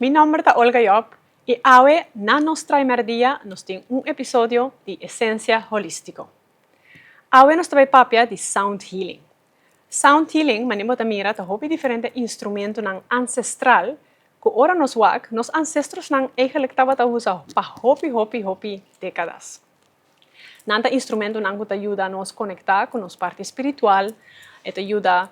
Mi nomber ta Olga Job y awe na nos trimer dia nos tin un episodio di Esencia Holístico. Awe nos ta bay papia di Sound Healing. Sound Healing, manera bo ta mira, ta hopi diferente instrumentonan ancestral cu ora nos wak, nos ancestrosnan eigenlijk tabata usa pa hopi, hopi, hopi decadas. Nan ta instrumentonan cu ta yuda nos conecta cu nos parti spiritual, e ta yuda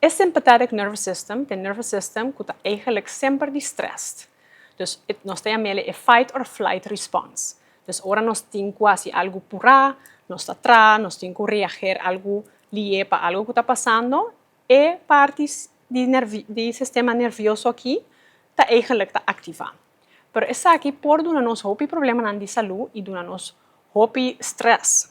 E sympathetic nervous system ta e nervous system ku ta eigenlik semper di stressed. Dus nos ta yam'e e fight or flight response. Dus ora nos tin ku hasi algu purá, nos ta traha, nos tin ku reager algu li'é pa algu ku ta pasando, e parti di nervi di sistema nervioso aki ta eigenlik ta aktivá. Pero esaki por duna nos hopi problemanan di salú i duna nos hopi stress.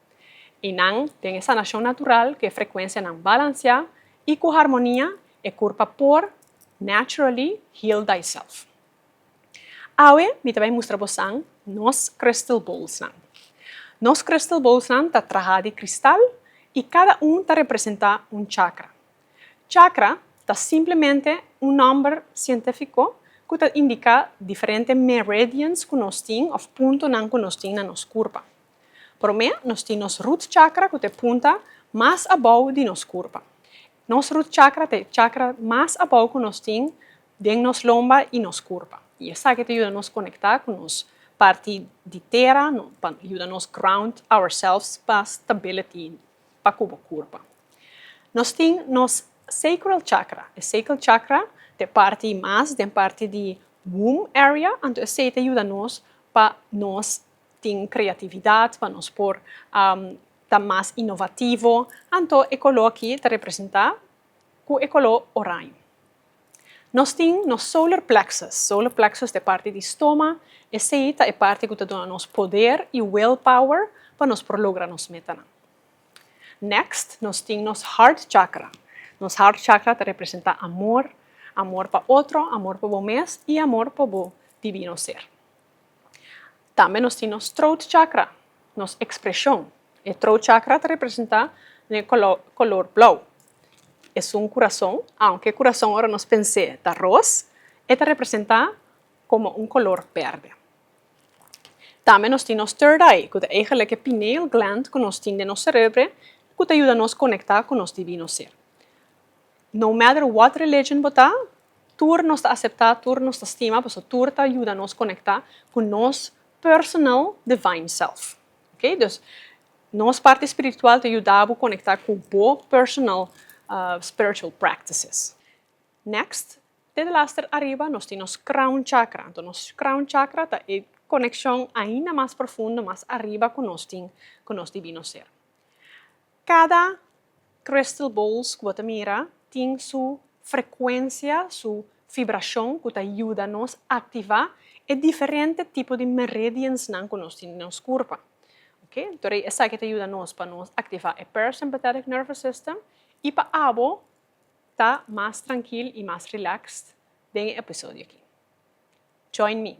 I nan den e sanashon natural ku e frekuensianan balansiá i ku harmonia, e kurpa por, naturally, heal thyself. Awe mi ta bai mustra bosan nos crystal bowlsnan. Nos crystal bowlsnan ta trahá di kristal i kada un ta representá un chakra. Chakra ta simplemente un nòmber sientífiko ku ta indiká diferente meridians ku nos tin òf puntonan ku nos tin na nos kurpa. Promé, nos tin nos root chakra ku ta e punta mas abou di nos kurpa. Nos root chakra ta e chakra mas abou ku nos tin den nos lomba i nos kurpa. I esaki ta yuda nos konektá ku nos parti di tera, pa yuda nos ground ourselves pa stability pa ku bo kurpa. Nos tin nos sacral chakra. E sacral chakra ta e parti mas den parti di womb area, anto esei ta yuda nos pa nos. tin creatividad pa nos por ta mas innovativo, anto e color aki ta representa cu e color oraño. Nos tin nos solar plexus, solar plexus ta e parti di stoma, esey ta e parti cu ta duna nos poder y will power pa nos por logra nos metanan. Next nos tin nos heart chakra, nos heart chakra ta representa amor, amor pa otro, amor pa bo mes y amor pa bo divino ser. Tambe nos tin nos throat chakra, nos ekspreshon. E throat chakra ta representá den e koló kolor blou. Esun kurason, aunke kurason ora nos pens'é ta ros, e ta representá komo un kolor bèrdè. Tambe nos tin nos third eye, ku ta eigelik e pineal gland ku nos tin den nos serebre, ku ta yuda nos konektá ku nos Divino Ser. No matter what religion bo ta, tur nos ta aseptá, tur nos ta stima, paso tur ta yuda nos konektá ku nos personal divine self. Ok, dus nos parti spiritual ta yuda bo konektá ku bo personal spiritual practices. Next, te di laster ariba nos tin nos crown chakra. Anto nos crown chakra ta e konekshon ainda mas profundo, mas ariba ku nos tin ku nos Divino Ser. Kada crystal balls ku bo ta mira tin su frekuensia, su fibrashon ku ta yuda nos aktivá e diferente tipo di meridiansnan ku nos tin den nos kurpa. Oke, torí esaki ta yuda nos pa nos aktivá e parasympathetic nervous system i pa abo ta mas trankil i mas relaxed den e episodio aki. Join me!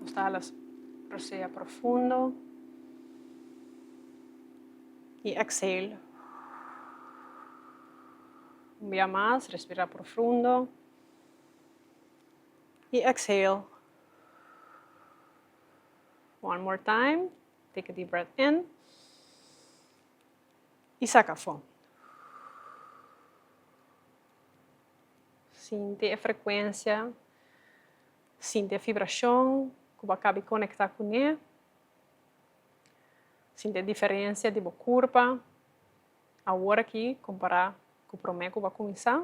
Nos ta hala profundo. y exhale un bia mas respira profundo y exhale one more time take a deep breath in y saca afo sinti e frecuencia sinti e vibracion cu bo a cabe conecta cune. Sinti e diferensia di bo kurpa awor aki kompará ku promé ku bo a kuminsá.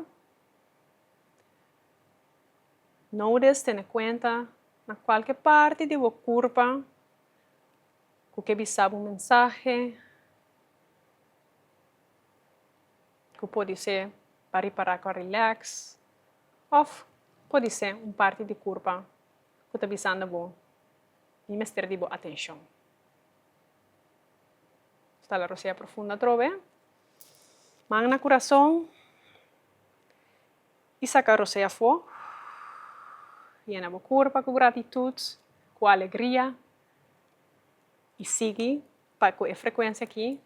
No des tene kuenta na kualke parti di bo kurpa ku ke bisa bo un mensahe ku pudi se pa ripará ku a rilèks òf pudi se un parti di kurpa. ku ta bisando bo, Mi mester di bo atenshon. Sta la rosea profundo atrobe. Man na kurason. I saka rosea afó. Yena bo kurpa ku gratitut, ku alegria. I sigui pa ku e frekuensia aki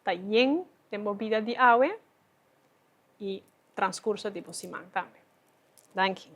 ta yen den bo bida di awe. y transcurso di bo siman tambe. Danki.